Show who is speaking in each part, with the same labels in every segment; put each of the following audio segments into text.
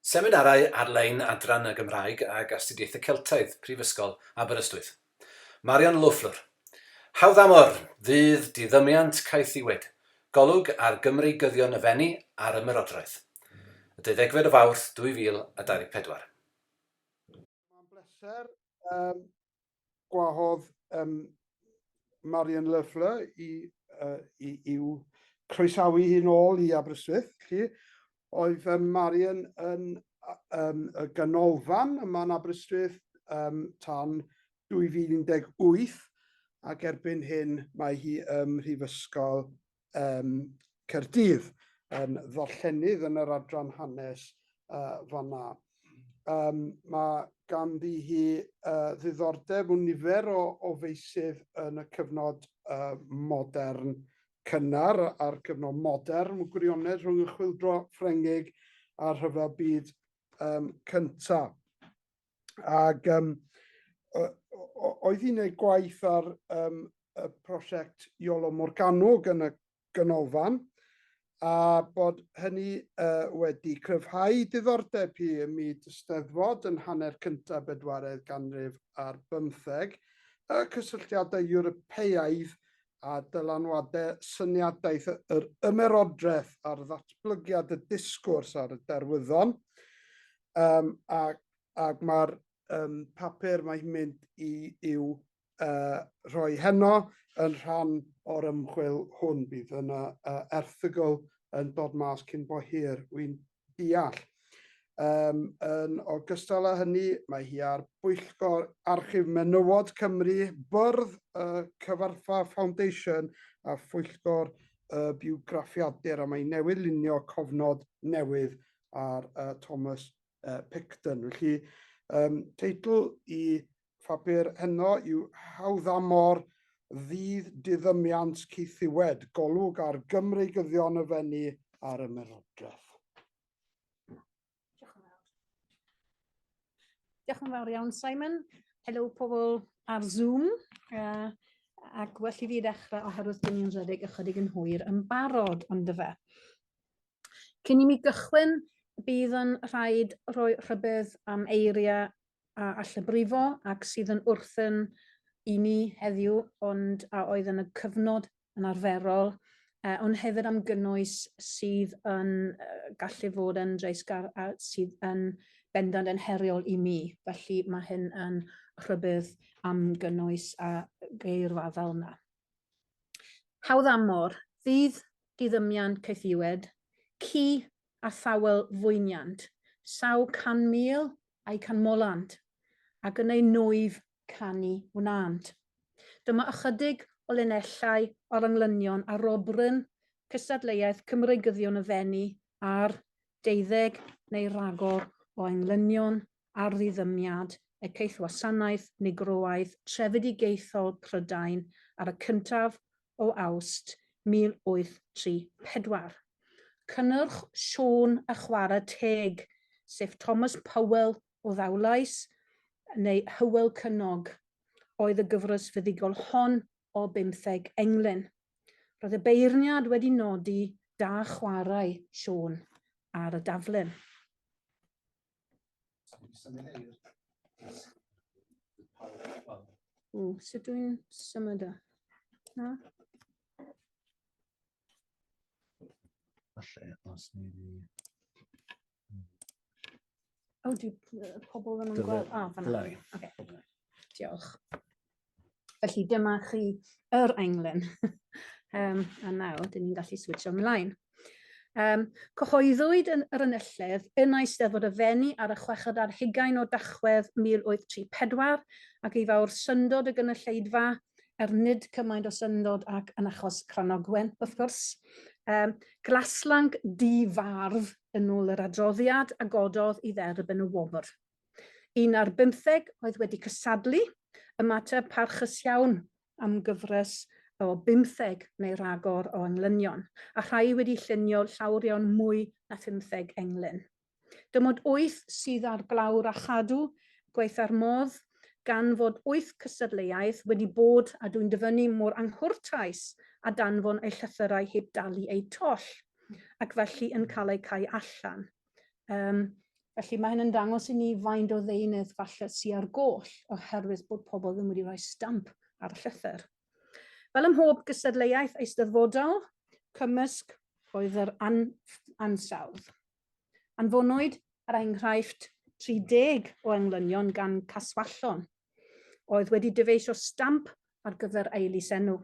Speaker 1: Seminarau ar-lein Adran y Gymraeg ag Astudiaethau Celtaidd, Prifysgol Aberystwyth. Marion Lawflur. Hawdd amor! Fydd diddymiant caethiwed, golwg ar Gymreigyddion y Fenni a'r Ymerodraeth. Y deuddegfed o Fawrth 2024.
Speaker 2: Mae'n bleser gwahodd um, Marian Leffler i, uh, i, i'w croesawu hi'n ôl i Aberystwyth. Chi. Oedd um, Marian yn um, y ganolfan yma'n Aberystwyth um, tan 2018 ac erbyn hyn mae hi ym Mhrifysgol um, Caerdydd yn ddarllenydd yn yr adran hanes uh, fanna. Um, mae ganddi hi uh, ddiddordeb mewn nifer o, o feisydd yn y cyfnod uh, modern cynnar a'r cyfnod modern, mewn gwirionedd rhwng y chwildro Ffrengig a'r rhyfel byd um, cyntaf. Ac um, oedd hi'n ei gwaith ar um, y prosiect Iolo Morganwg yn y ganolfan, a bod hynny uh, wedi cryfhau diddordeb hi ym myd y steddfod yn hanner cyntaf bedwaredd ganrif ar bymtheg, y cysylltiadau Ewropeaidd a dylanwadau syniadaeth yr ymerodraeth ar ddatblygiad y disgwrs ar y derwyddon. um, ac, ac mae'r um, papur mae hi'n mynd i i'w uh, rhoi heno yn rhan o'r ymchwil hwn. Bydd yna uh, erthygl yn dod mas cyn bo hir, wy'n deall. Um, yn ogystal â hynny, mae hi ar bwyllgor Archif Menywod Cymru, byrdd y Cyfarthfa Foundation a phwyllgor y biwgraffiadur a mae newydd lunio cofnod newydd ar uh, Thomas uh, Picton. Felly, um, teitl i phapur heno yw Hawddamor ddydd diddymiant ceithiwed, golwg ar Gymreigyddion y fenni ar y merodraeth.
Speaker 3: Diolch yn fawr iawn, Simon. Helo pobl ar Zoom. Uh, ac well i fi ddechrau oherwydd dyn ni'n rhedeg ychydig yn hwyr yn barod ond fe. Cyn i mi gychwyn, bydd yn rhaid rhoi rhybudd am eiriau a allbrifo ac sydd yn wrthyn i ni heddiw ond a oedd yn y cyfnod yn arferol, uh, ond hefyd am gynnwys sydd yn uh, gallu fod yn dreisgar a sydd yn bendant yn heriol i mi. Felly mae hyn yn rhybudd am gynnwys a geirfa fel yna. Hawdd amor, ddydd diddymiant caethiwed, ci a thawel fwyniant, saw can mil a'u canmolant, ac yn eu nwyf canu wnânt. Dyma ychydig o linellau o'r englynion arobryn cystadleuaeth Cymreigyddion y Fenni ar deuddeg neu ragor o englynion ar ddiddymiad Ekaeth Wasanaeth Nigroaidd Trefedigaethol Prydain ar y cyntaf o Awst 1834. Cynnyrch Siôn a Chwarae Teg, sef Thomas Powell o Ddawlais, neu Hywel Cynnog, oedd y gyfres fuddugol hon o bymtheg englyn. Roedd y beirniad wedi nodi da chwarae Siôn ar y daflen. Ww, sut dwi'n symud o? Na? Falle, os ni di... O, dwi pobl ddim yn gweld... O, fanna. Oce. Diolch. Felly dyma chi yr englyn. Yym a nawr dyn ni'n gallu switsio mlaen. Um, cyhoeddwyd yn yr ynylledd yn Eisteddfod y Fenni ar y chweched ar hugain o Dachwedd 1834 ac ei fawr syndod y gynulleidfa er nid cymaint o syndod ac yn achos Cranogwen, wrth gwrs. Um, glaslanc di-farf yn ôl yr adroddiad a gododd i dderb yn y wobr. Un ar bymtheg oedd wedi cysadlu, ymateb parchus iawn am gyfres o bymtheg neu ragor o englynion, a rhai wedi llunio llawr iawn mwy na phymtheg englyn. Dim ond wyth sydd ar glawr a chadw gwaetha'r modd, gan fod wyth cystadleuaeth wedi bod a dwi'n dyfynnu mor anghwrtais a danfon eu llythyrau heb dalu eu toll, ac felly yn cael eu cau allan. Um, felly mae hyn yn dangos i ni faint o ddeunydd falle sy ar goll oherwydd bod pobl ddim wedi rhoi stamp ar y llythyr. Fel ym mhob gystadleuaeth eisteddfodol, cymysg oedd yr an ansawdd. Anfonwyd ar enghraifft 30 o englynion gan Caswallon, oedd wedi dyfeisio stamp ar gyfer ei lysenw.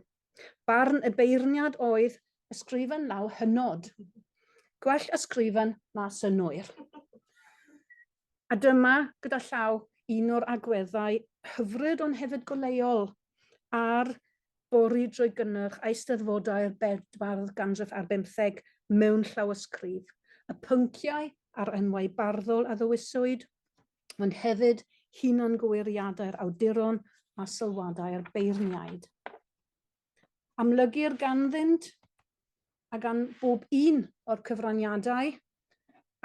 Speaker 3: Barn y beirniad oedd, Ysgrifen law hynod. Gwell ysgrifen na synnwyr. A dyma, gyda llaw, un o'r agweddau hyfryd ond hefyd goleuol ar bori drwy gynnyrch Eisteddfodau'r bedwardd ganrif ar bymtheg mewn llawysgrif, y pynciau a'r enwau barddol a ddewiswyd, ond hefyd hunangywiriadau'r awduron a sylwadau'r beirniaid. Amlygir ganddynt a gan bob un o'r cyfraniadau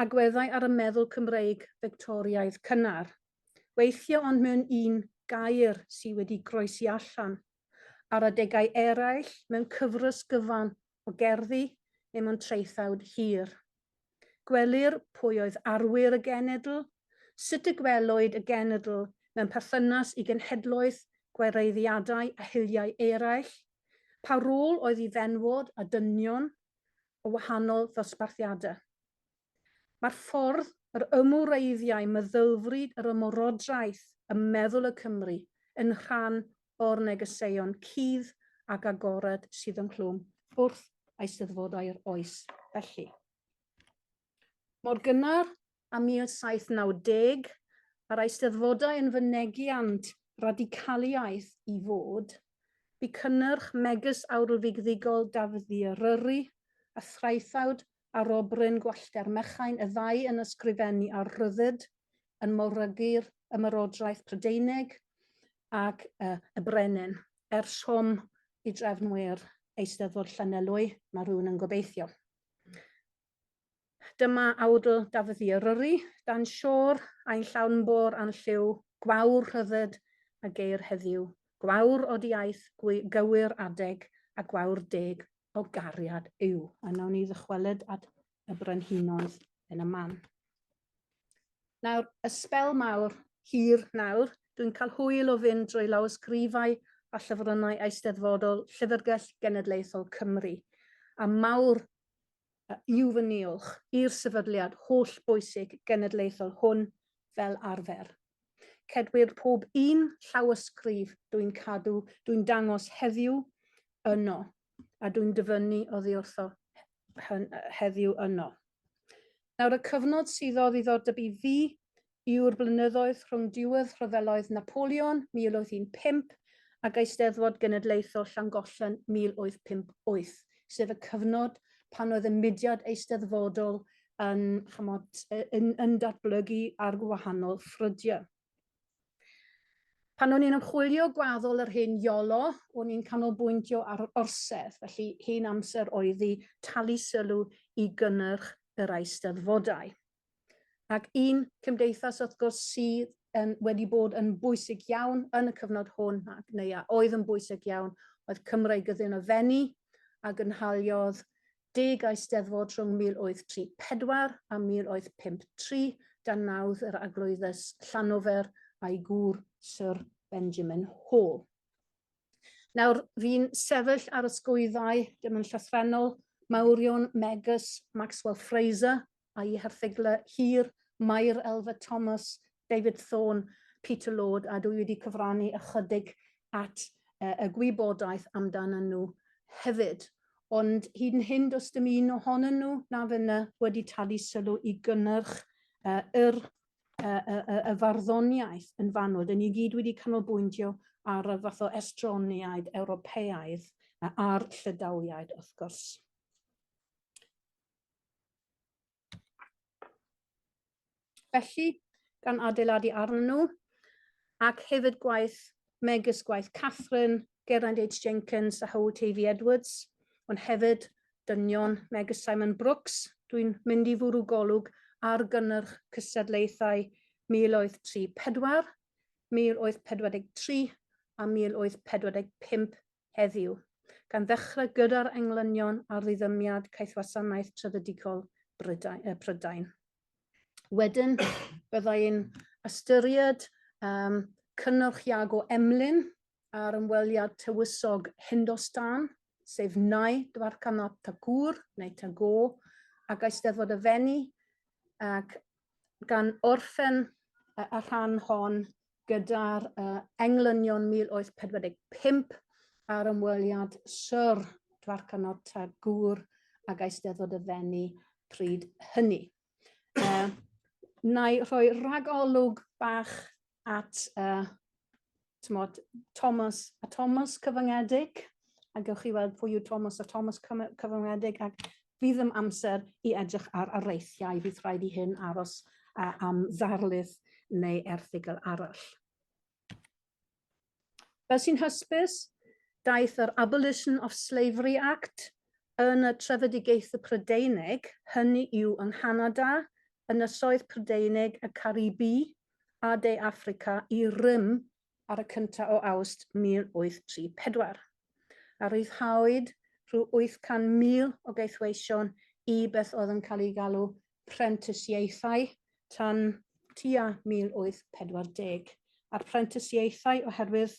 Speaker 3: agweddau ar y meddwl Cymreig Fictoriaidd cynnar, weithio ond mewn un gair sydd wedi groesi allan, ar adegau eraill mewn cyfres gyfan o gerddi i'm ond traethawd hir. Gwelir pwy oedd arwyr y genedl, sut y gwelwyd y genedl mewn perthynas i genhedloedd, gwareiddiadau a hiliau eraill, pa rôl oedd i fenywod a dynion o wahanol ddosbarthiadau. Mae'r ffordd yr ymwreiddiai meddylfryd yr ymerodraeth ym meddwl y Cymry yn rhan o'r negeseuon cudd ac agored sydd ynghlwm wrth Eisteddfodau'r oes felly. Mor gynnar â 1790, a'r Eisteddfodau yn fynegiant radicaliaeth i fod, bu cynnyrch megys awrlfigddigol Dafydd Ddy Eryri a thraethawd arobryn gwallter mechain y ddau yn ysgrifennu ar ryddid, yn morygu'r Ymerodraeth Prydeinig ac y, y Brenin, er swm i drefn wêr Eisteddfod Llanelwy, mae rhywun yn gobeithio. Dyma awdl Dafydd i Eryri, dan siôr, ain llawn bôr a'n lliw, gwawr rhyddid a geir heddiw, gwawr odiaeth, gywir adeg a gwawr deg o gariad yw. A wnawn ni ddychwelyd at y brenhinoedd yn y man. Nawr, y spel mawr, hir nawr, dwi'n cael hwyl o fynd drwy lawysgrifau a llyfrynnau eisteddfodol Llyfrgell Genedlaethol Cymru, a mawr yw fy niolch i'r sefydliad hollbwysig genedlaethol hwn fel arfer. Cedwir pob un llawysgrif dwi'n cadw, dwi'n dangos heddiw yno, a dwi'n dyfynnu oddiwrtho heddiw yno. Nawr y cyfnod sydd o ddiddordeb i fi yw'r blynyddoedd rhwng diwedd rhyfeloedd Napoleon 1815 ag Eisteddfod Genedlaethol Llangollen 1858, sef y cyfnod pan oedd y mudiad eisteddfodol yn, chymod, yn, yn datblygu ar wahanol ffrydiau. Pan o'n i'n ymchwilio gwaddol yr hyn Iolo, o'n i'n canolbwyntio ar yr orsedd, felly hyn amser oedd i talu sylw i gynnyrch yr eisteddfodau. Ac un cymdeithas wrth gwrs sydd yn, wedi bod yn bwysig iawn yn y cyfnod hwn, ac neu a oedd yn bwysig iawn, oedd Cymraeg Gyddyn y Fenni, a gynhaliodd deg Eisteddfod rhwng 1834 a 1853, dan nawdd yr Arglwyddes Llanofer a'i gŵr Syr Benjamin Hall. Nawr, fi'n sefyll ar ysgwyddau, dim yn llythrenol, mawrion megys Maxwell Fraser a'i herthyglau hir, Mair Elva Thomas, David Thorne, Peter Lord, a dwi wedi cyfrannu ychydig at uh, y gwybodaeth amdano nhw hefyd. Ond hyd yn hyn, does dim un ohonyn nhw na fyna wedi talu sylw i gynnyrch uh, yr y, y, y, y farddoniaeth yn fanwl. Dyn ni gyd wedi canolbwyntio ar y fath o estroniaid Ewropeaidd a'r llydawiaid, wrth gwrs. Felly, gan adeiladu arnyn nhw, ac hefyd gwaith megis gwaith Catherine Geraint H Jenkins a Howard Tavy Edwards, ond hefyd dynion megis Simon Brooks, dwi'n mynd i fwrw golwg ar gynnyrch cystadlaethau 1834, 1843 a 1845 heddiw, gan ddechrau gyda'r englynion ar ddiddymiad caethwasanaeth trefedigaol Prydain. Wedyn, bydda i'n ystyried um, cynnyrch Iago Emlyn ar ymweliad tywysog Hindostan, sef Nai Dwarkanath Tagŵr neu Tagore, ac Eisteddfod y Fenni, ac gan orffen y rhan hon gyda'r uh, englynion 1845 a'r ymweliad Sir Dwarcanod Tagŵr ag Eisteddfod y Fenni pryd hynny. Uh, na i rhoi rhagolwg bach at uh, tmod, Thomas a Thomas cyfyngedig, a gewch chi weld pwy yw Thomas a Thomas cyfyngedig, ac Fydd ddim amser i edrych ar areithiau, bydd rhaid i hyn aros am ddarlith neu erthygl arall. Fel sy'n hysbys, daeth yr Abolition of Slavery Act yn y trefedigaethu Prydeinig, hynny yw yng Nghanada, Ynysoedd Prydeinig, y Caribi a De Affrica i rym ar y cyntaf o Awst 1834, a rhyddhawyd rhyw 800,000 o gaethweision i beth oedd yn cael ei galw prentisiaethau tan tua 1840, a'r prentisiaethau oherwydd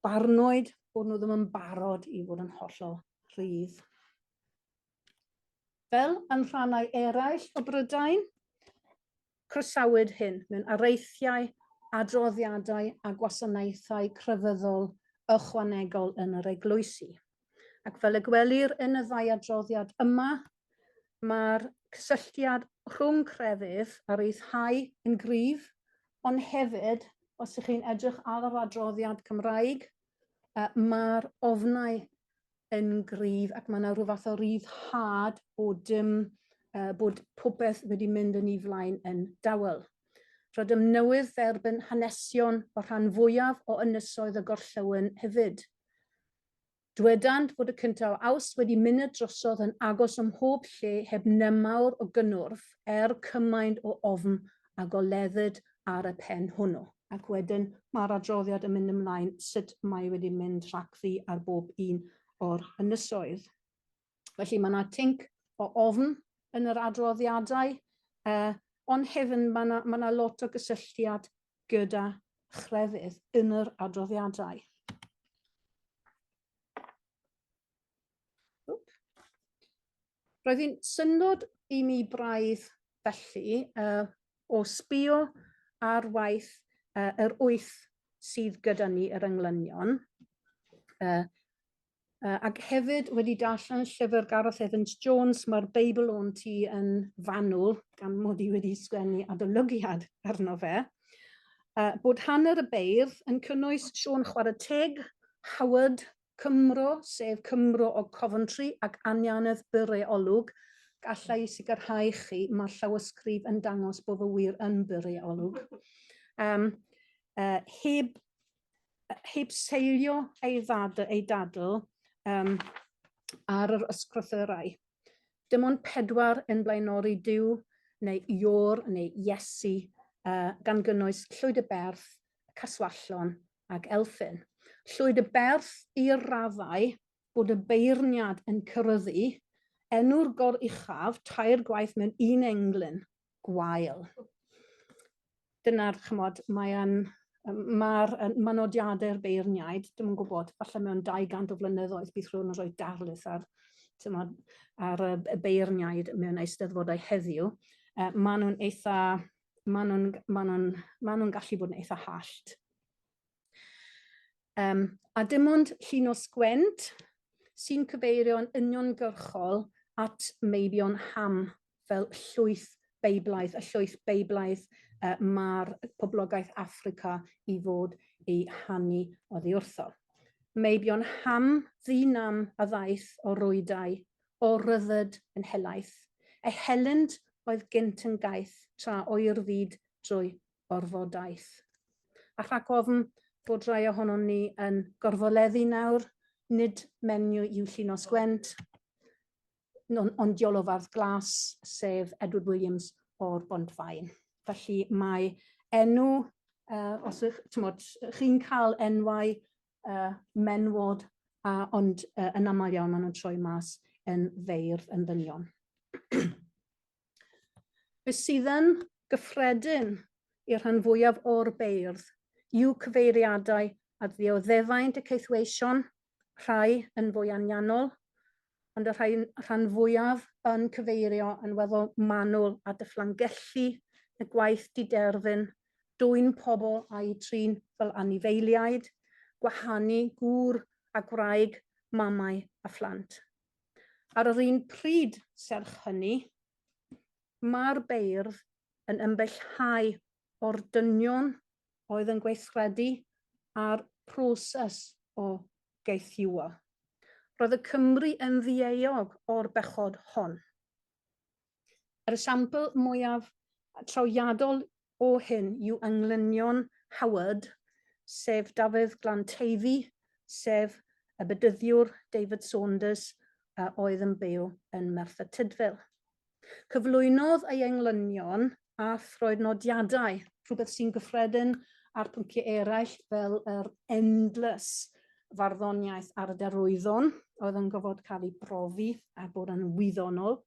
Speaker 3: barnwyd bod nhw ddim yn barod i fod yn hollol rhydd. Fel yn rhannau eraill o Brydain, croesawyd hyn mewn areithiau, adroddiadau a gwasanaethau crefyddol ychwanegol yn yr eglwysi. Ac fel y gwelir yn y ddau adroddiad yma, mae'r cysylltiad rhwng crefydd a reithau yn gryf, ond hefyd, os ych chi'n edrych ar yr adroddiad Cymraeg, mae'r ofnau yn gryf ac mae yna rhyw fath o ryddhad bod, um, uh, bod popeth wedi mynd yn ei flaen yn dawel. Rydym newydd dderbyn hanesion o rhan fwyaf o ynysoedd y gorllewin hefyd. Dwedant fod y cyntaf o aws wedi mynd y drosodd yn agos ym mhob lle heb nemawr o gynnwrf er cymaint o ofn a goleddid ar y pen hwnnw. Ac wedyn mae'r adroddiad yn mynd ymlaen sut mae e wedi mynd rhagddi ar bob un o'r ynysoedd. Felly mae yna tinc o ofn yn yr adroddiadau, ond hefyd mae yna, mae yna lot o gysylltiad gyda chrefydd yn yr adroddiadau. Roedd hi'n syndod i mi braidd felly, yy, o sbïo ar waith yy yr wyth sydd gyda ni, yr englynion, yy, yy, ac hefyd wedi darllen y llyfr Gareth Evans Jones, mae'r Beibl o'n ti yn fanwl, gan mod i wedi sgwennu adolygiad arno fe, uh, bod hanner y beirdd yn cynnwys Siôn Chwarae Teg, Howard, Cymro, sef Cymro o Coventry ac Anianedd Bure Olwg, galla i sicrhau chi mae'r llawysgrif yn dangos bod fy wir yn Bure Olwg. Um, uh, heb, heb seilio ei, ddad, ei dadl um, ar yr ysgrythyrau. Dim ond pedwar yn blaenori Dyw neu Iôr neu Iesu uh, gan gynnwys Llwyd y Berth, y Caswallon ag Elfyn. Llwyd y Berth i'r raddau bod y beirniad yn cyryddu enw'r goruchaf tair gwaith mewn un englyn gwael. Dyna'r, chymod, mae'n Mae'r manodiadau'r beirniaid, dim yn gwybod, falle mewn 200 o flynyddoedd bydd rhywun yn rhoi darlith ar, tymod, ar y beirniaid mewn eisteddfodau heddiw. Uh, maen nhw'n eitha maen nhw'n maen nhw'n maen nhw'n gallu bod yn eitha hallt. Um, a dim ond llun o sgwent sy'n cyfeirio'n uniongyrchol at meibion ham fel llwyth Beiblaidd, y llwyth Beiblaidd uh, mae'r poblogaeth Africa i fod ei hannu oddi wrtho. Meibion ham ddynam a ddaeth o rwydau o ryddid yn helaeth, ei helynt oedd gynt yn gaeth tra oer fyd drwy orfodaeth. A rhag ofn bod rhai ohonon ni yn gorfoleddu nawr, nid menyw yw Llinos Gwent, ond diolofardd glas, sef Edward Williams o'r Bontfaen. Felly mae enw, uh, os ych, chi'n cael enwau uh, menwod, a, ond uh, yn aml iawn maen nhw'n troi mas yn feirdd yn ddynion. Be sydd yn gyffredin i'r rhan fwyaf o'r beirdd yw cyfeiriadau at ddioddefaint y ceithweision, rhai yn fwy anianol, ond y rhai, rhan fwyaf yn cyfeirio yn weddol manwl at y fflangelli, y gwaith diderfyn, dwyn pobl a'u trin fel anifeiliaid, gwahanu gŵr a gwraig, mamau a phlant. Ar yr un pryd, serch hynny, mae'r beirdd yn ymbellhau o'r dynion oedd yn gweithredu a'r proses o gaethiwo. Roedd y Cymry yn ddieog o'r bechod hon. Yr esiampl mwyaf trawiadol o hyn yw englynion Howard, sef Dafydd Glanteifi, sef y bedyddiwr David Saunders a oedd yn byw yn Merthyr Tudful. Cyflwynodd ei englynion a throed nodiadau, rhywbeth sy'n gyffredin ar pynciau eraill fel yr endless farddoniaeth ar y derwyddon oedd yn gofod cael ei brofi a bod yn wyddonol.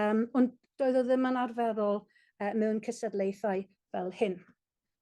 Speaker 3: Um, ond doedd o ddim yn arferol uh, mewn cysadlaethau fel hyn.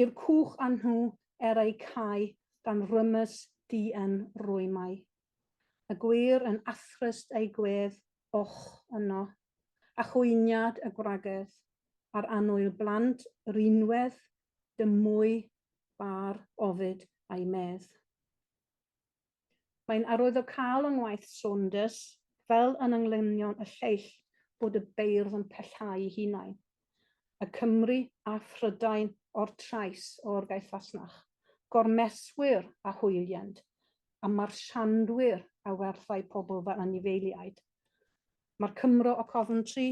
Speaker 3: i'r cwch a nhw er eu cau gan rymus dŷen rwymau. Y gwŷr yn athrist eu gwedd och yno, a chwyniad y gwragedd, a'r annwyl blant rinwedd dy mwy bâr ofid a'i medd. Mae'n arwyddocaol yng ngwaith Saunders, fel yn englynion y lleill, bod y beirdd yn pellhau'u hunain, y Cymry a Phrydain o'r trais o'r gaeth fasnach, gormeswyr a hwyliend, a marsiandwyr a werthai pobl fy anifeiliaid. Mae'r Cymro o Coventry,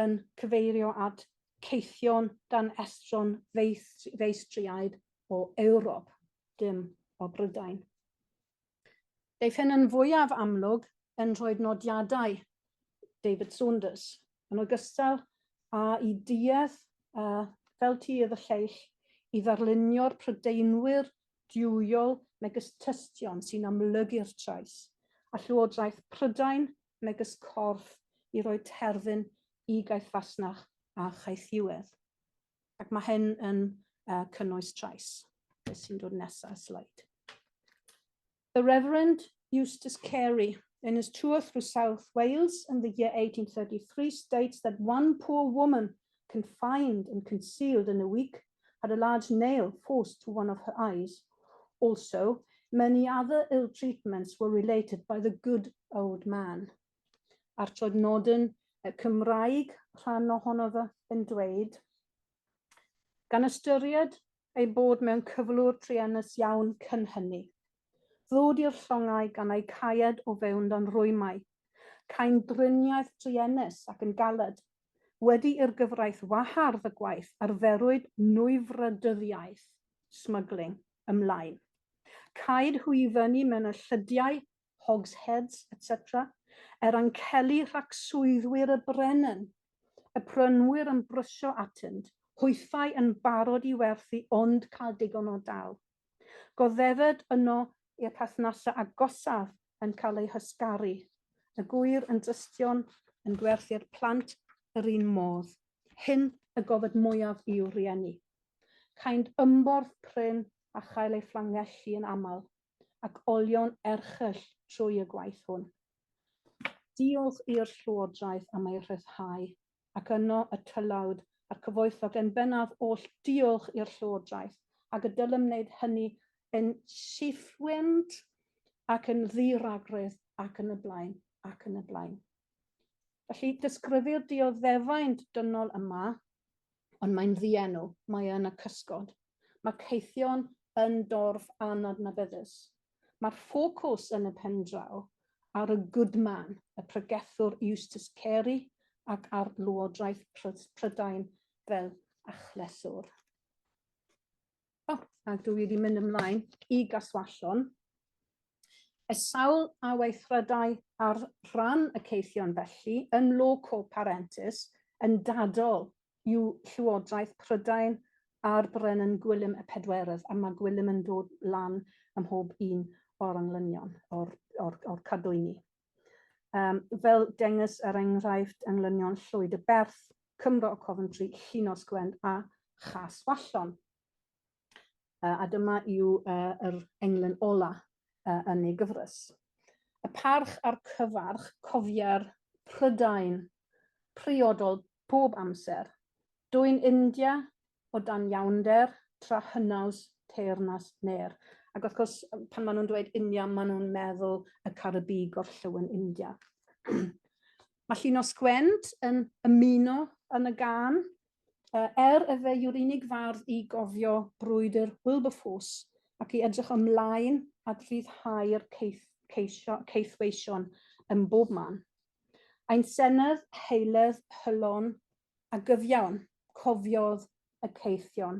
Speaker 3: yn cyfeirio at Caethion dan estron feistr-feistriaid o Ewrop, dim o Brydain. Daeth hyn yn fwyaf amlwg yn rhoi nodiadau David Saunders, yn ogystal â'i duedd uh, fel tir y lleill i ddarlunio'r Prydeinwyr diwyol megis tystion sy'n amlygu'r trais a llywodraeth Prydain megys corff i roi terfyn i gaeth fasnach a chaethiwedd. Ac mae hyn yn uh, cynnwys trais. Beth sy'n dod nesaf, slide. The Reverend Eustace Carey, in his tour through South Wales in the year 1833, states that one poor woman confined and concealed in a week had a large nail forced to one of her eyes. Also, many other ill treatments were related by the good old man. A'r trod nodyn Cymraeg rhan ohono fe yn dweud, gan ystyried ei bod mewn cyflwr truenus iawn cyn hynny. Ddod i'r llongau gan ei caed o fewn dan rwymau, cain driniaeth truenus ac yn galed Wedi i'r gyfraith wahardd y gwaith arferwyd nwyfwrdyddiaeth, smuggling, ymlaen. Caed hwy i fyny mewn y llydiau, hogsheads, etc. Er anceli rhac swyddwyr y Brenin, y prynwyr yn brysio atynt, hwythau yn barod i werthu ond cael digon o dal. Goddefed yno i'r perthnasau agosaf yn cael eu hysgaru, y gŵyr yn dystion yn gwerthu'r plant yr un modd. Hyn y gofed mwyaf i'w rieni. Caent ymborth prin a chael eu fflangellu yn aml, ac olion erchyll trwy y gwaith hwn. Diolch i'r Llywodraeth am ei rhyddhau ac yno y tylawd a'r cyfoethog yn bennaf oll diolch i'r Llywodraeth, ac y dylem wneud hynny yn llifwend ac yn ddi-ragredd ac yn y blaen ac yn y blaen. Felly, disgrifir dioddefaint dynol yma, ond mae'n ddienw, mae yn y cysgod. Mae caethion yn dorf anadnabyddus. Mae'r ffocws yn y pendraw ar y good man, y pregethwr Eustace Carey, ac ar Lywodraeth Prydain fel achlyswr. O, a dwi wedi mynd ymlaen i gaswallon. Y sawl a weithredai ar ran y ceithion felly yn loco parentis yn dadol yw Llywodraeth Prydain a'r Brenin Gwilym y Pedwerydd, a mae Gwilym yn dod lan ym mhob un o'r englynion, o'r, or, or cadwyni. Um, fel dengys er enghraifft englynion Llwyd y Berth, Cymro o Coventry, Llinos Gwend a Chas Wallon. A dyma yw yr englyn ola yn ei gyfres. Y parch a'r cyfarch, cofia'r Prydain priodol bob amser, dwyn India o dan iawnder, tra hynaws teyrnas ner. Ac wrth gwrs, pan maen nhw'n dweud India, maen nhw'n meddwl y Caribî gorllewin India. Mae Llinos Gwent yn ymuno yn y gan, Uh, er y fe yw'r unig fardd i gofio brwydr Wilberforce ac i edrych ymlaen at ryddhau'r ceith, ceisio, ceithweision yn bob man. Ein senedd, heiledd, hylon a gyfiawn, cofiodd y ceithion.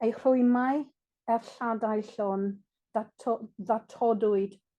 Speaker 3: Ei rhwymau, er lladau llon, ddatodwyd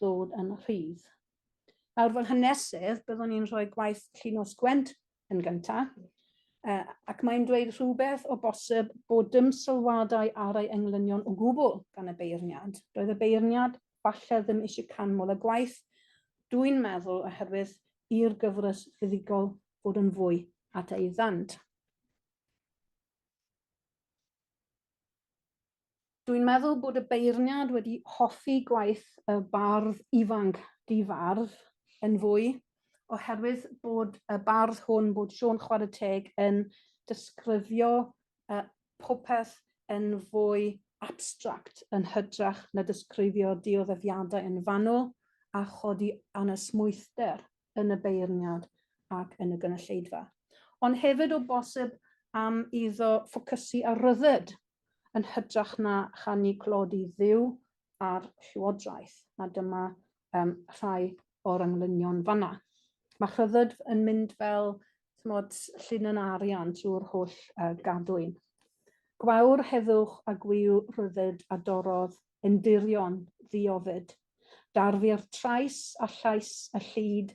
Speaker 3: ddod yn rhydd. Nawr fel hanesydd, byddwn ni'n rhoi gwaith Llinos Gwent yn gyntaf, uh, ac mae'n dweud rhywbeth o bosib bod dim sylwadau ar ei englynion o gwbl gan y beirniad. Roedd y beirniad falle ddim eisiau canmol y gwaith, dwi'n meddwl oherwydd i'r gyfres fuddugol fod yn fwy at ei ddant. Dwi'n meddwl bod y beirniad wedi hoffi gwaith y bardd ifanc di-fardd yn fwy, oherwydd bod y bardd hwn, bod Siôn Chwarae Teg yn disgrifio uh, popeth yn fwy abstract yn hytrach na disgrifio dioddefiadau yn fanwl a chodi anesmwythder yn y beirniad ac yn y gynulleidfa. Ond hefyd o bosib am iddo ffocysu ar ryddid yn hytrach na chanu clod i Dduw a'r Llywodraeth, a dyma um, rhai o'r englynion fanna. Mae rhyddid yn mynd fel tmod, llun yn arian trwy'r holl uh, gadwyn. Gwawr heddwch a gwyw rhyddid a dorodd, endirion, ddiofyd. Darfu'r trais a llais y llid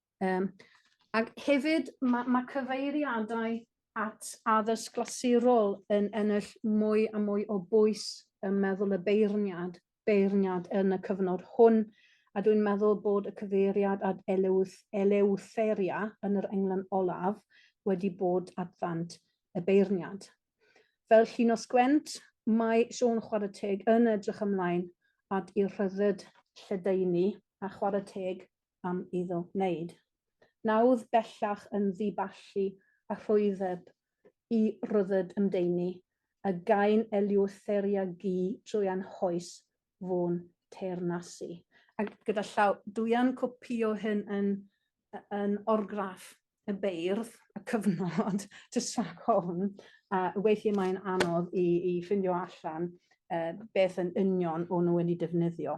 Speaker 3: Um, ac hefyd mae, mae cyfeiriadau at addysg glasurol yn ennill mwy a mwy o bwys yn meddwl y beirniad, beirniad yn y cyfnod hwn, a dwi'n meddwl bod y cyfeiriad at elewth, elewtheria yn yr englan olaf wedi bod at ddant y beirniad. Fel Llinos Gwent, mae Siôn Chwarae Teg yn edrych ymlaen at i'r rhyddid lledaenu a chwarae teg am iddo wneud. Nawdd bellach yn ddiballu a rhwyddeb i rydded ymdeini, a gain eliwtheria gu drwy anhoes fu'n teyrnasu. Ac gyda llaw dwyan copïo hyn yn yn orgraff y beirdd, y cyfnod, jyst rhag ofn, a weithiau mae'n anodd i i ffindio allan yy beth yn union o'n nhw wedi defnyddio.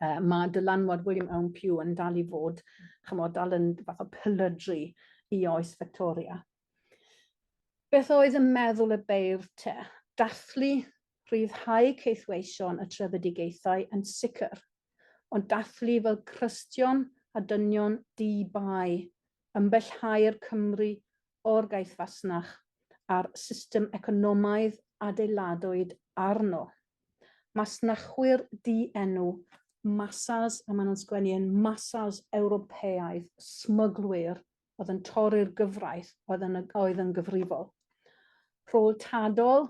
Speaker 3: Uh, mae dylanwad William Owen Pugh yn dal i fod, chymod, dal yn fath o pylydru i oes Victoria. Beth oedd yn meddwl y beirdd te? Dathlu rhyddhau ceithweision y trefedigaethau yn sicr, ond dathlu fel crystion a dynion di-bai, ymbellhau'r Cymru o'r gaeth fasnach a'r system economaidd adeiladwyd arno. Masnachwyr di-enw, masas, a maen nhw'n sgwennu yn masas Ewropeaidd, smyglwyr oedd yn torri'r gyfraith oedd yn, oedd yn gyfrifol. Rhôl Tadol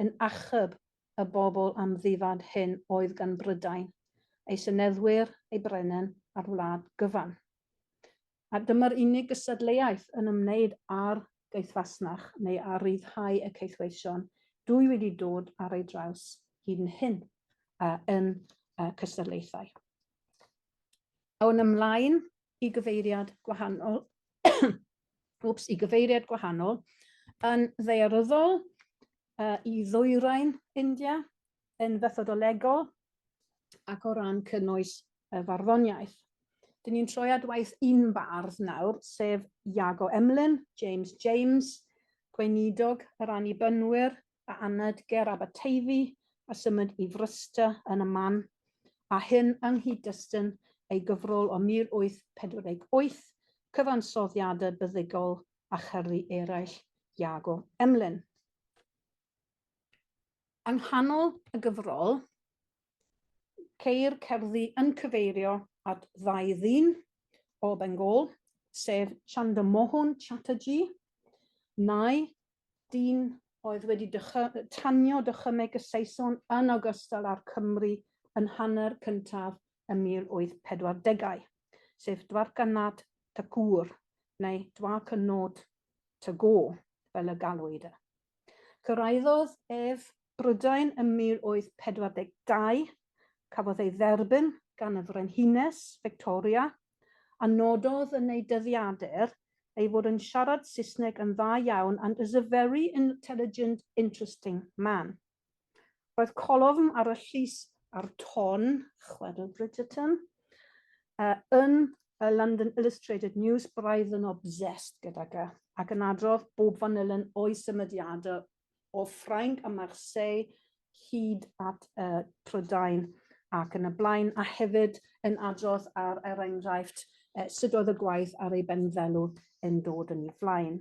Speaker 3: yn achub y bobl amddifad hyn oedd gan Brydain, ei seneddwyr, ei brenin, a'r wlad gyfan. a dyma'r unig gystadleuaeth yn ymwneud â'r gaethfasnach neu â rhyddhau y caethweision dwy wedi dod ar ei draws hyd yn hyn uh, yn uh, cystadlaethau. Awn ymlaen i gyfeiriad gwahanol, wps, i gyfeiriad gwahanol, yn ddearyddol uh, i ddwyrain India, yn fethodolegol ac o ran cynnwys y farddoniaeth. Dyn ni'n troi at waith un bardd nawr, sef Iago Emlyn, James James, Gweinidog yr Annibynwyr, a anad ger Aberteifi, a symud i Frysta yn y man, a hyn yng nghyd-destun ei gyfrol o 1848, cyfansoddiadau byddugol a cherddi eraill Iago Emlyn. Yng nghanol y gyfrol, ceir cerddi yn cyfeirio at ddau ddyn o Bengal, sef Chandramohan Chatterjee, nai dyn oedd wedi tanio dychymyg y Saeson yn ogystal â'r Cymry yn hanner cyntaf y 1840au, sef Dwarkanath Thakur, neu Dwarkanaut Tagore fel y galwyd e. Cyrhaeddodd ef Brydain ym 1842, cafodd ei dderbyn gan y Frenhines Victoria, a nododd yn ei dyddiadur ei fod yn siarad Saesneg yn dda iawn and is a very intelligent, interesting man. Roedd colofn ar y llys a'r ton, chwedl Bridgerton, uh, yn y London Illustrated News, braidd yn obsessed gydag e, ac yn adrodd bob fanylen o'i symudiadau o Ffrainc a Marseille hyd at uh, Prydain ac yn y blaen, a hefyd yn adrodd ar er enghraifft uh, sut oedd y gwaith ar ei benfelw yn dod yn ei flaen.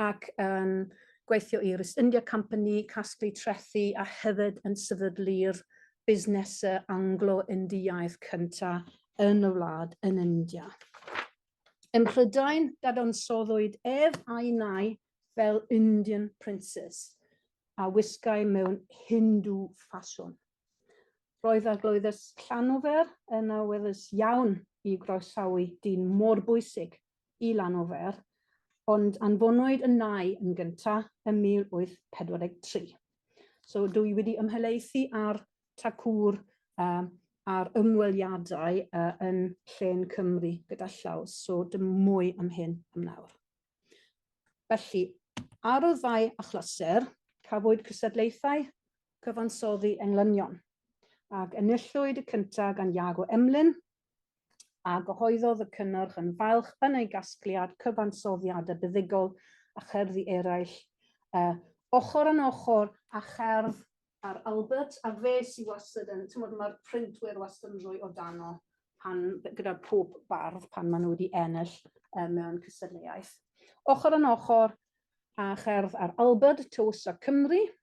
Speaker 3: ac yn gweithio i'r East India Company, casglu trethi a hefyd yn sefydlu'r busnesau Anglo-Indiaidd cyntaf yn y wlad yn India. Ym Mhrydain, dadansoddwyd ef a'i nai fel Indian Princes a wisgai mewn Hindu ffasiwn. Roedd arglwyddes Llanofer yn awyddus iawn i groesawu dyn mor bwysig i Lanofer, ond anfonwyd y nau yn gyntaf ym 1843. So dw i wedi ymhelaethu ar Tacŵr uh, a'r ymweliadau uh, yn llen Cymru gyda llaw, so dim mwy am hyn am nawr. Felly, ar y ddau achlysur, cafwyd cysadlaethau cyfansoddi englynion, ac enillwyd y cyntaf gan Iago Emlyn a gyhoeddodd y cynnyrch yn falch yn ei gasgliad cyfansoddiadau buddugol a cherddi eraill, yy, ochr yn ochr â cherdd ar Albert, a fe sydd wastad yn, timod, mae'r printwyr wastad yn rhoi o dano pan, gyda pob bardd pan maen nhw wedi ennill uh, mewn cystadleuaeth. Ochr yn ochr a cherdd ar Albert, Tywysog Cymru,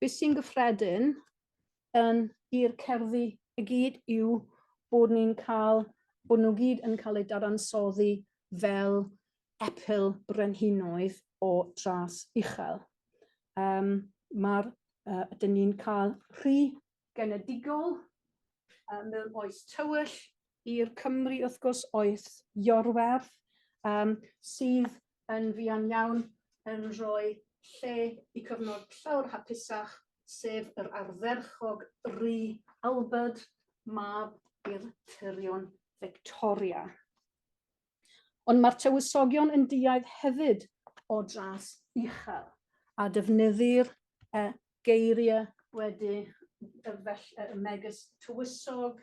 Speaker 3: Beth sy'n gyffredin yn i'r cerddi i gyd yw bod ni'n cael, bod nhw gyd yn cael eu dadansoddi fel epil brenhinoedd o dras uchel. Um, Mae'r, uh, dyn ni'n cael rhy genedigol, um, mewn oes tywyll, i'r Cymru wrth gwrs oes Iorwerth, um, sydd yn fuan iawn yn rhoi lle i cyfnod llawr hapusach, sef yr ardderchog Ry Albert, mab i'r tyrion Victoria. Ond mae'r tywysogion yn duaidd hefyd o dras uchel, a defnyddir y geiriau wedi y fell, y megis tywysog,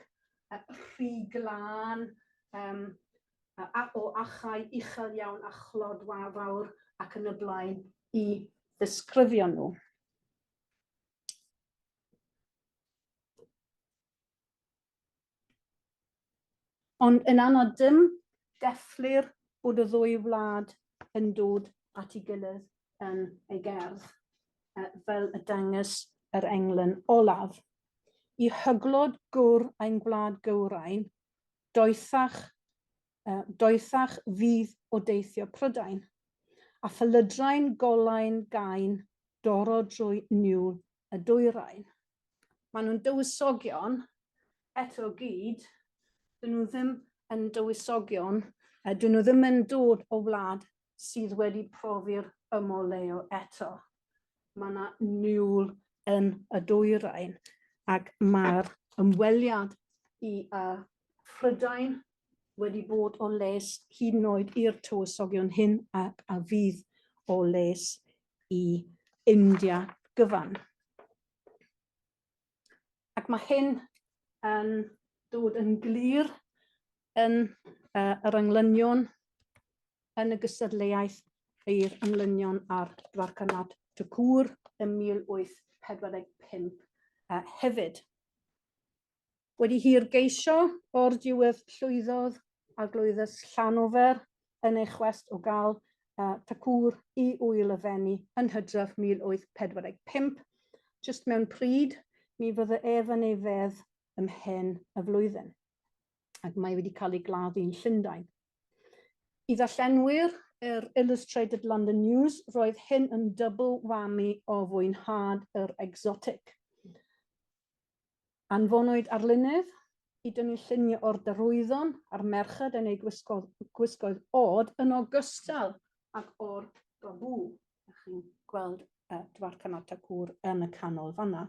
Speaker 3: y rhy glân, um, a, o achau uchel iawn a chlod wafawr ac yn y blaen i ddisgrifio nhw. Ond yn anad dim, gellir bod y ddwy wlad yn dod at ei gilydd yn ei gerdd, fel y dangys yr englyn olaf. I hyglod gwr ein gwlad gywrain, doethach, doethach fydd o deithio Prydain, a phalydrain golain gain doro drwy niwl y dwyrain. Maen nhw'n dywysogion, eto gyd, dyn nhw ddim yn dywysogion, a dyn nhw ddim yn dod o wlad sydd wedi profi'r ymoleo eto. Mae yna niwl yn y dwyrain ac mae'r ymweliad i uh, Prydain wedi bod o les hyd yn oed i'r tywysogion hyn ac a fydd o les i India gyfan. Ac mae hyn yn dod yn glir yn uh, yr englynion yn y gystadleuaeth i'r englynion ar Dwarcanad Tacŵr ym 1845 uh, hefyd. Wedi hir geisio, o'r diwedd llwyddodd Arglwyddes Llanofer yn ei chwest o gael Thakur i ŵyl y Fenni yn Hydref 1845, jyst mewn pryd, mi fydde ef yn ei fedd ymhen y flwyddyn, ac mae wedi cael ei gladdu yn Llundain. I ddarllenwyr yr Illustrated London News, roedd hyn yn double whammy o fwynhad yr exotic. Anfonwyd arlunydd i dynnu lluniau o'r darwyddon a'r merched yn eu gwisgoedd, gwisgoedd od yn ogystal ac o'r babŵ. Ydych chi'n gweld uh, Dwar Canata Cwr yn y canol fanna.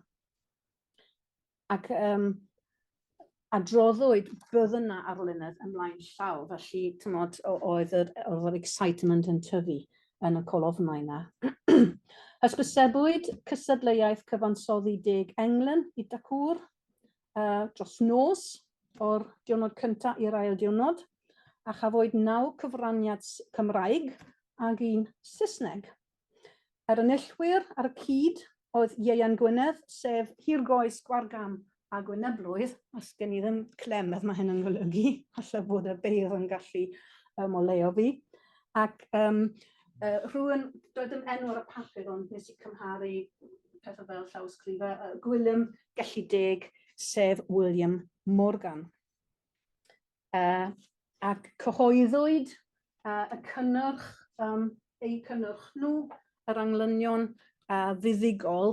Speaker 3: Ac um, adroddwyd bydd yna arlunydd ymlaen llaw, felly tymod, oedd yr, oedd yr excitement yn tyfu. yn y colofnau 'na. Hysbysebwyd cystadleuaeth cyfansoddi deg englyn i Dacŵr uh, dros nos o'r diwrnod cyntaf i'r ail diwrnod, a chafwyd naw cyfraniad Cymraeg ag un Saesneg. Yr enillwyr ar y cyd oedd Ieuan Gwynedd, sef hirgoes Gwargam a Gwyneblwydd, os gen i ddim clem beth mae hyn yn golygu, alla bod y beirdd yn gallu um, oleo fi. Ac um, uh, rhywun, doedd dim enw ar y papur ond nes i cymharu pethau fel llawysgrifau, uh, Gwilym Gellideg, sef William Morgan. Uh, ac cyhoeddwyd uh, y cynnyrch, um, eu cynnyrch nhw, yr anglynion uh, fuddugol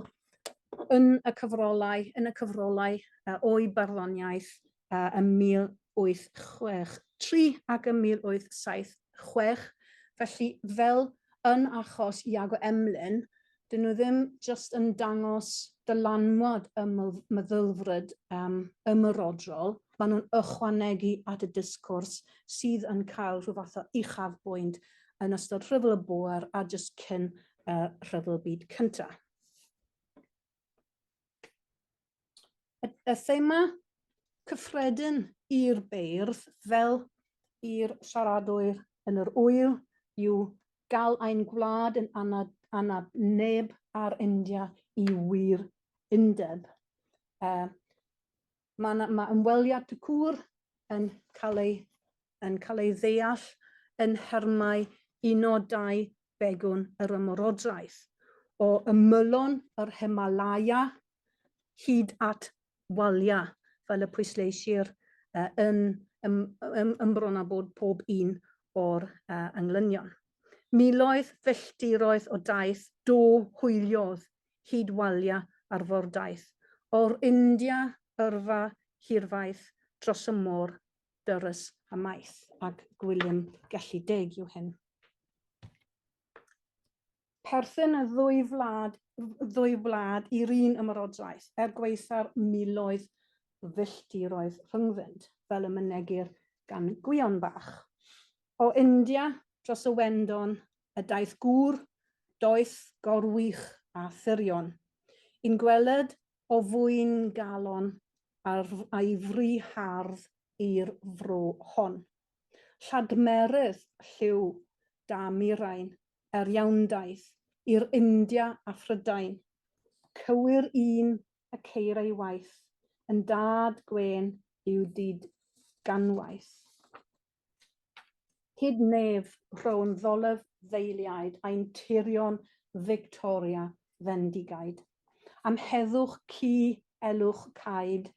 Speaker 3: yn y cyfrolau, yn y cyfrolau uh, o'i barddoniaeth uh, ym 1863 ac ym 1876. Felly, fel yn achos Iago Emlyn, 'dyn nhw ddim jyst yn dangos dylanwad y ml- meddylfryd yym ymerodrol, ma' nhw'n ychwanegu at y discwrs sydd yn cael rhyw fath o uchafbwynt yn ystod Rhyfel y Bôer a jyst cyn y Rhyfel Byd Cynta'. y, y thema cyffredin i'r beirdd fel i'r siaradwyr yn yr wyl yw gael ein gwlad yn anad, anad neb ar India i wir undeb. Uh, mae, mae ymweliad y cwr yn cael ei, yn cael ei ddeall yn hermau unodau begwn yr ymwrodraeth. O ymylon yr Himalaya hyd at waliau, fel y pwysleisir uh, yn ym, ym, ymbron â bod pob un o'r uh, englynion. Miloedd filltiroedd o daith do hwyliodd hyd waliau arfordaeth, o'r India yrfa hirfaith dros y môr dyrys a maith, ac Gwilym Gellid Deg yw hyn. perthyn y ddwy wlad, ddwy wlad i'r un ymerodraeth, er gwaetha'r miloedd o filltiroedd rhyngddynt, fel y mynegir gan Gwion Bach. O India dros y Wendon y daeth gŵr, doeth, gorwych a thurion, i'n gweled o fwyn galon ar, a'i fri hardd i'r fro hon. Lladmerydd lliw da murain er iawndaith i'r India a Phrydain. Cywir un y ceir ei waith yn dad gwên i'w dyd ganwaith. Hyd nef rhown ddolyf ddeiliaid ein tirion Victoria fendigaid. Am heddwch ci elwch caed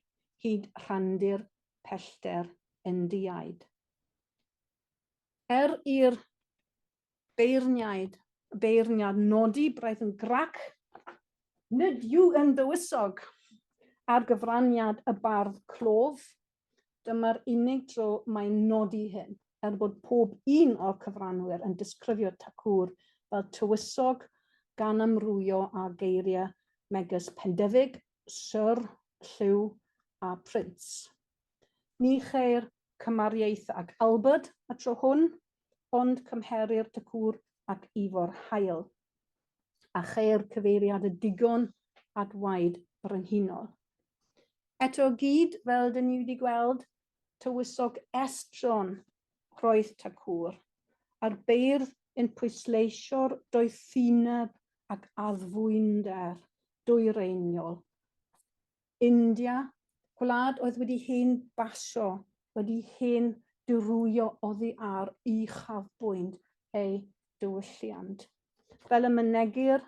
Speaker 3: hyd rhandir pellter Indiaid. Er i'r Beirniaid, beirniad nodi braidd yn grac, nid yw yn dywysog, ar gyfraniad y bardd clof, dyma'r unig dro mae'n nodi hyn, er bod pob un o'r cyfranwyr yn disgrifio Tacŵr fel tywysog gan amrwyo â geiriau megys Pendefig, Syr, Llyw a Prince. Ni cheir cymariaeth ag Albert y tro hwn, ond cymherir Tŷ Cŵr ac Ifor Hael, a cheir cyfeiriad y digon at waed brenhinol. Eto o gyd, fel dyn ni wedi gweld, tywysog estron roedd Tŷ Cŵr, a'r beirdd yn pwysleisio'r doethineb ac addfwynder dwyreiniol India, gwlad oedd wedi hen basio, wedi hen dirwyo oddi ar uchafbwynt ei diwylliant. Fel y mynegir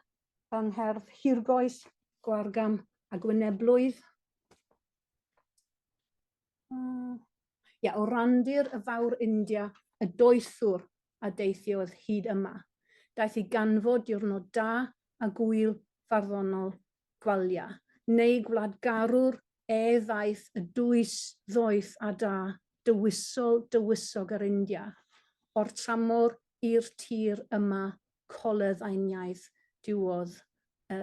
Speaker 3: yng ngherdd hirgoes, gwargam a gwyneblwydd, Mm. Ia, o randir y fawr India y doethwr a deithiodd hyd yma. Daeth i ganfod diwrnod da a gwyl farddonol gwalia, neu gwlad garwr e ddaeth y dwys ddoeth a da, dywysol dywysog yr India, o'r tramor i'r tir yma coledd aeniaidd diwodd y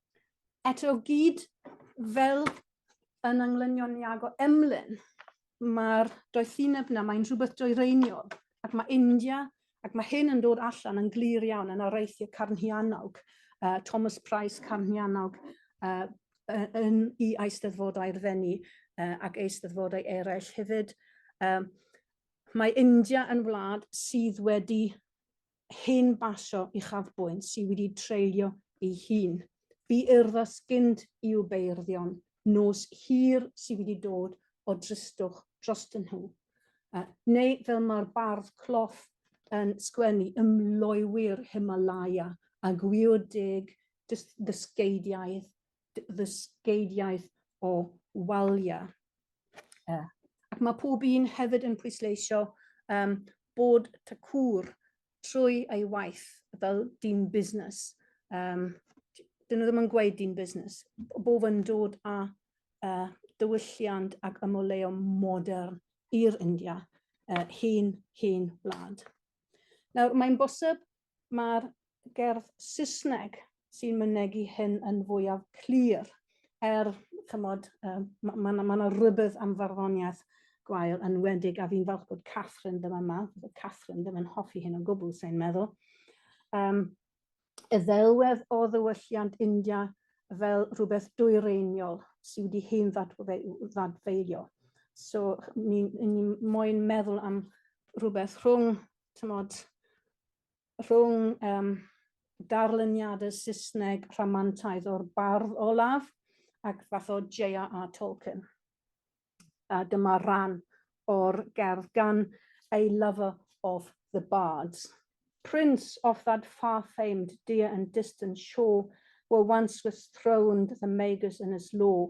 Speaker 3: Eto gyd fel yn anglynion Iago Emlyn, mae'r doethineb yna, mae'n rhywbeth dwyreiniol, ac mae India, ac mae hyn yn dod allan yn glir iawn yn areithiau carnhiannog, uh, Thomas Price carnhiannog uh, yn i eisteddfodau'r ddenu uh, ac eisteddfodau eraill hefyd. Um, mae India yn wlad sydd wedi hen basio uchafbwynt sydd wedi treulio ei hun. Bu urddas gynt i'w beirddio'n nos hir sydd wedi dod o dristwch drostyn nhw. Uh, neu fel mae'r bardd cloff yn sgwennu ymloewyr Himalaya a gwio deg ddysgeidiaeth ddysgeidiaeth o waliau. Uh, ac mae pob un hefyd yn pwysleisio um, bod ta cwr trwy ei waith fel dyn busnes. Um, dyn nhw ddim yn gweud dyn busnes. Bob yn dod â uh, dywylliant ac ymoleo modern i'r India, uh, hen, hen wlad. Nawr, mae'n bosib mae'r gerdd Saesneg sy'n mynegi hyn yn fwyaf clir, er, chymod, um, mae ma, ma yna rhybydd am farddoniaeth gwael yn wedig, a fi'n falch bod Catherine ddim yma, bod Catherine ddim yn hoffi hyn o gwbl, sy'n meddwl. Um, y ddelwedd o ddywylliant India fel rhywbeth dwyreiniol sydd wedi hen ddadfeilio. So, ni'n ni, ni moyn meddwl am rhywbeth rhwng tymod, rhwng um, darluniadau Saesneg rhamantaidd o'r bardd olaf ac fath o J.R.R. Tolkien. A dyma rhan o'r gerdd gan A Lover of the Bards. Prince of that far-famed dear and distant shore were once was throned the magus in his law,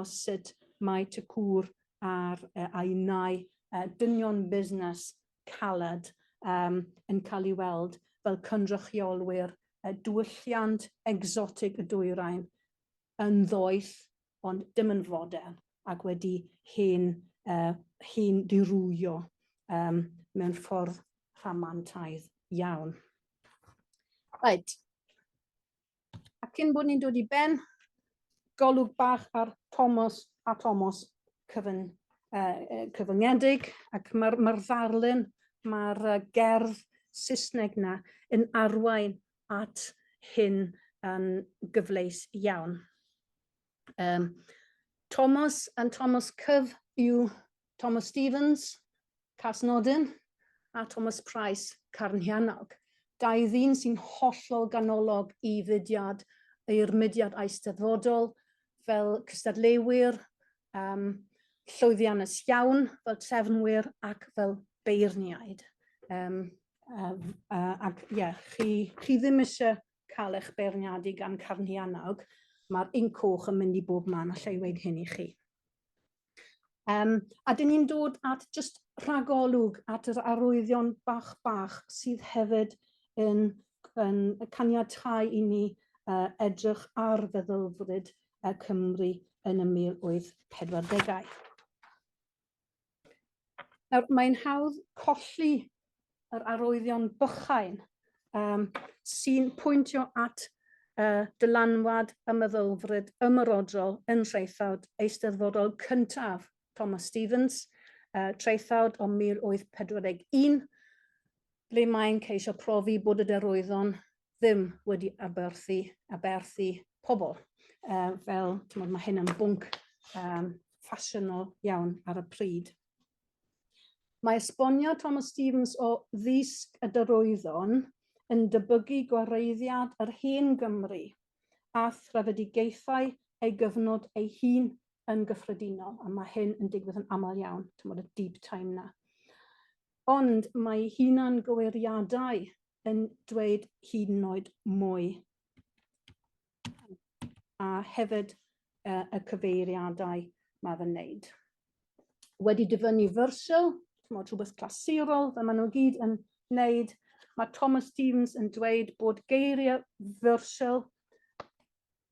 Speaker 3: os sut mae Tŷ Cŵr ar ei nau dynion busnes caled yn cael ei weld fel cynrychiolwyr diwylliant egsotig y dwyrain, yn ddoeth ond dim yn fodern ac wedi hen hen ddirywio mewn ffordd rhamantaidd iawn. Reit. A cyn bod ni'n dod i ben, golwg bach ar Thomas a Thomas cyfyn, uh, cyfyngedig, ac mae'r ma ddarlun, mae'r uh, gerdd Saesneg na yn arwain at hyn yn gyfleus iawn. Um, Thomas and Thomas Cyf yw Thomas Stevens, Casnodyn, a Thomas Price, Carnhianog. Dau ddyn sy'n hollol ganolog i fudiad, i'r mudiad eisteddfodol, fel cystadleuwyr, um, llwyddiannus iawn, fel trefnwyr ac fel beirniaid. Um, uh, uh, ac ie, yeah, chi, chi ddim eisiau cael eich beirniadu gan Carni Annog, mae'r inc coch yn mynd i bob man, allai dweud hyn i chi. Um, a dyn ni'n dod at just rhagolwg at yr arwyddion bach bach sydd hefyd yn, yn caniatau i ni uh, edrych ar feddylfryd uh, Cymru yn y 1840au. Nawr, mae'n hawdd colli yr arwyddion bychain um, sy'n pwyntio at uh, dylanwad y meddylfryd ymyrodrol yn traethawd eisteddfodol cyntaf Thomas Stevens, uh, traethawd o 1841, ble mae'n ceisio profi bod y derwyddon ddim wedi aberthu, aberthu pobl. Uh, fel, ti'n mae hyn yn bwnc um, ffasiynol iawn ar y pryd. Mae esbonio Thomas Stevens o ddisg y dyrwyddon yn dybygu gwareiddiad yr hen Gymru a threfedigaethau ei gyfnod ei hun yn gyffredinol, a mae hyn yn digwydd yn aml iawn, tymod y deep time na. Ond mae hunan gywiriadau yn dweud hyd yn oed mwy. A hefyd uh, y cyfeiriadau mae fe'n wneud. Wedi dyfynnu fersiwn, mod rhywbeth clasurol, fe maen nhw gyd yn wneud. Mae Thomas Stevens yn dweud bod geiriau fersiwn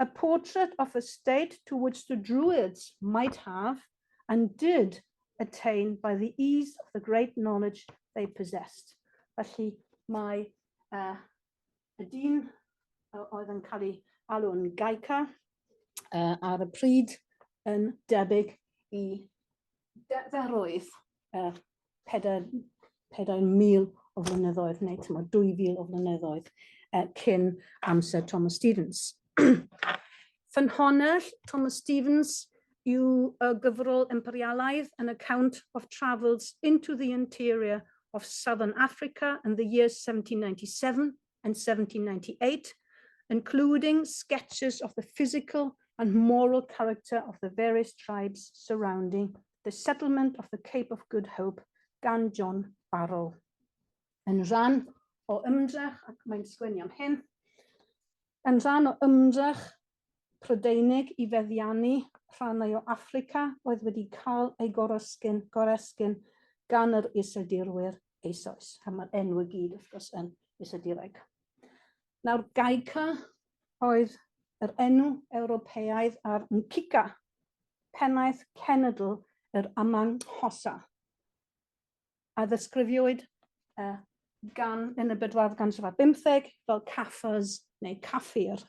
Speaker 3: A portrait of a state to which the Druids might have, and did, attain by the ease of the great knowledge they possessed. Felly mae uh, y dyn oedd yn cael ei alw'n gaica uh, ar y pryd yn debyg i deddfwrwydd uh, pedair, pedair mil o flynyddoedd, neu tymo, 2,000 o flynyddoedd uh, cyn amser Thomas Stevens. Ffynhonnell Thomas Stevens yw y gyfrol imperialaidd An Account of Travels into the Interior of Southern Africa in the year 1797 and 1798, including sketches of the physical and moral character of the various tribes surrounding the settlement of the Cape of Good Hope gan John Barrell. Yn rhan o ymdrech, ac mae'n sgwennu am hyn, yn rhan o ymdrech Prydeinig i feddiannu rhannau o Affrica oedd wedi cael eu goresgyn, goresgyn gan yr Iseldirwyr eisoes. A mae'r enw i gyd, wrth gwrs, yn Iseldireg. Nawr, Gaica oedd yr enw Ewropeaidd ar Nkika, pennaeth cenedl yr Amanghosa. a ddisgrifiwyd uh, gan yn y bedwardd ganrif ar bymtheg fel caffers neu caffir.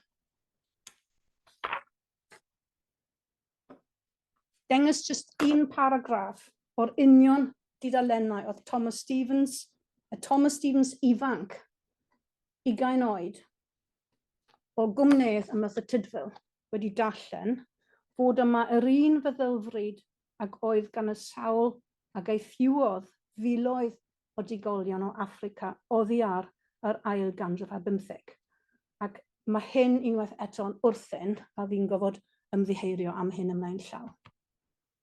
Speaker 3: Dengys just un paragraff o'r union didalennau oedd Thomas Stevens, y Thomas Stevens ifanc, ugain oed, O gwmnês am y Cytudfil wedi darllen fod yma yr un feddylfryd ag oedd gan y sawl a gaethiwodd filoedd o digolion o Affrica oddi ar yr ail ganrif ar bymtheg, ac mae hyn unwaith eto'n wrthyn a fi'n gofod ymddiheirio am hyn ymlaen llaw.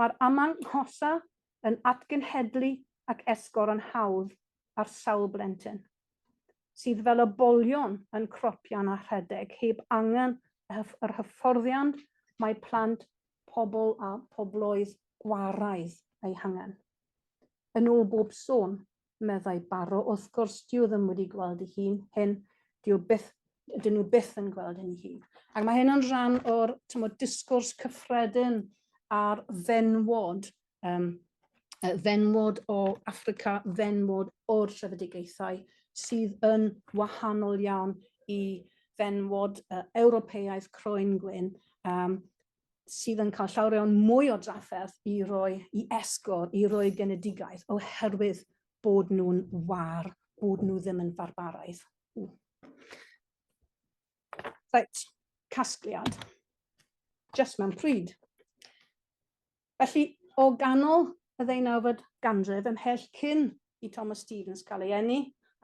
Speaker 3: Mae'r amanghosa yn atgenhedlu ac esgor yn hawdd ar sawl blentyn, sydd fel y bolion yn cropian a rhedeg heb angen yr hyfforddiant mae plant pobl a phobloedd gwaraidd eu hangen. Yn ôl bob sôn, meddai Barrow. Wrth gwrs, dyw ddim wedi gweld ei hun hyn, dyw byth, dyn nhw byth yn gweld hyn ei hun. Ac mae hyn yn rhan o'r tymod, disgwrs cyffredin a'r fenwod, um, fenwod o Africa, fenwod o'r trefedigaethau, sydd yn wahanol iawn i fenwod uh, Ewropeaidd croen gwyn, um, sydd yn cael llawer iawn mwy o drafferth i roi i esgo, i roi genedigaeth, oherwydd bod nhw'n war, bod nhw ddim yn farbaraidd. Right, casgliad. Just mewn pryd. Felly, o ganol y ddeunawfed ganrif ymhell cyn i Thomas Stevens cael ei eni,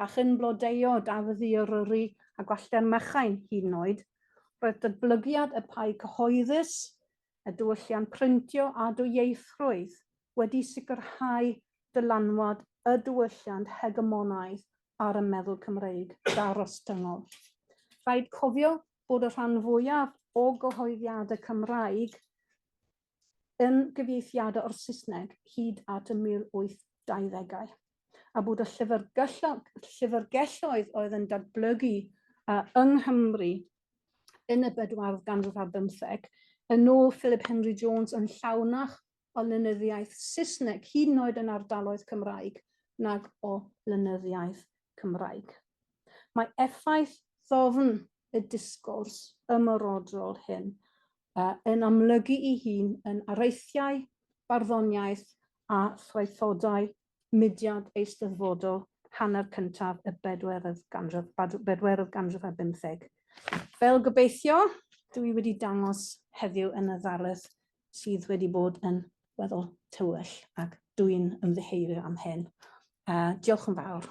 Speaker 3: a chyn blodeuo Dafydd I Eryri a Gwallter Machain hyd yn oed, roedd datblygiad y pai cyhoeddus, y diwylliant printio a dwyieithrwydd wedi sicrhau dylanwad y diwylliant hegemonaidd ar y meddwl Cymreig darostyngol. Rhaid cofio bod y rhan fwyaf o gyhoeddiadau Cymraeg yn gyfieithiadau o'r Saesneg hyd at y 1820au, a bod y llyfrgelloedd oedd yn datblygu uh, yng Nghymru yn y bedwardd ganrif ar bymtheg, yn ôl Philip Henry Jones yn llawnach o lenyddiaeth Saesneg, hyd yn oed yn ardaloedd Cymraeg, nag o lenyddiaeth Cymraeg. Mae effaith ddofn y disgwrs ymrodrol hyn yn amlygu ei hun yn areithiau, barddoniaeth a thraethodau mudiad eisteddfodol hanner cyntaf y bedwerydd ganrif, bedwerydd ganrif ar bymtheg. Fel gobeithio, dw i wedi dangos heddiw yn y ddarlith sydd wedi bod yn weddol tywyll ac dw i'n ymddiheurio am hyn. Uh, diolch yn fawr.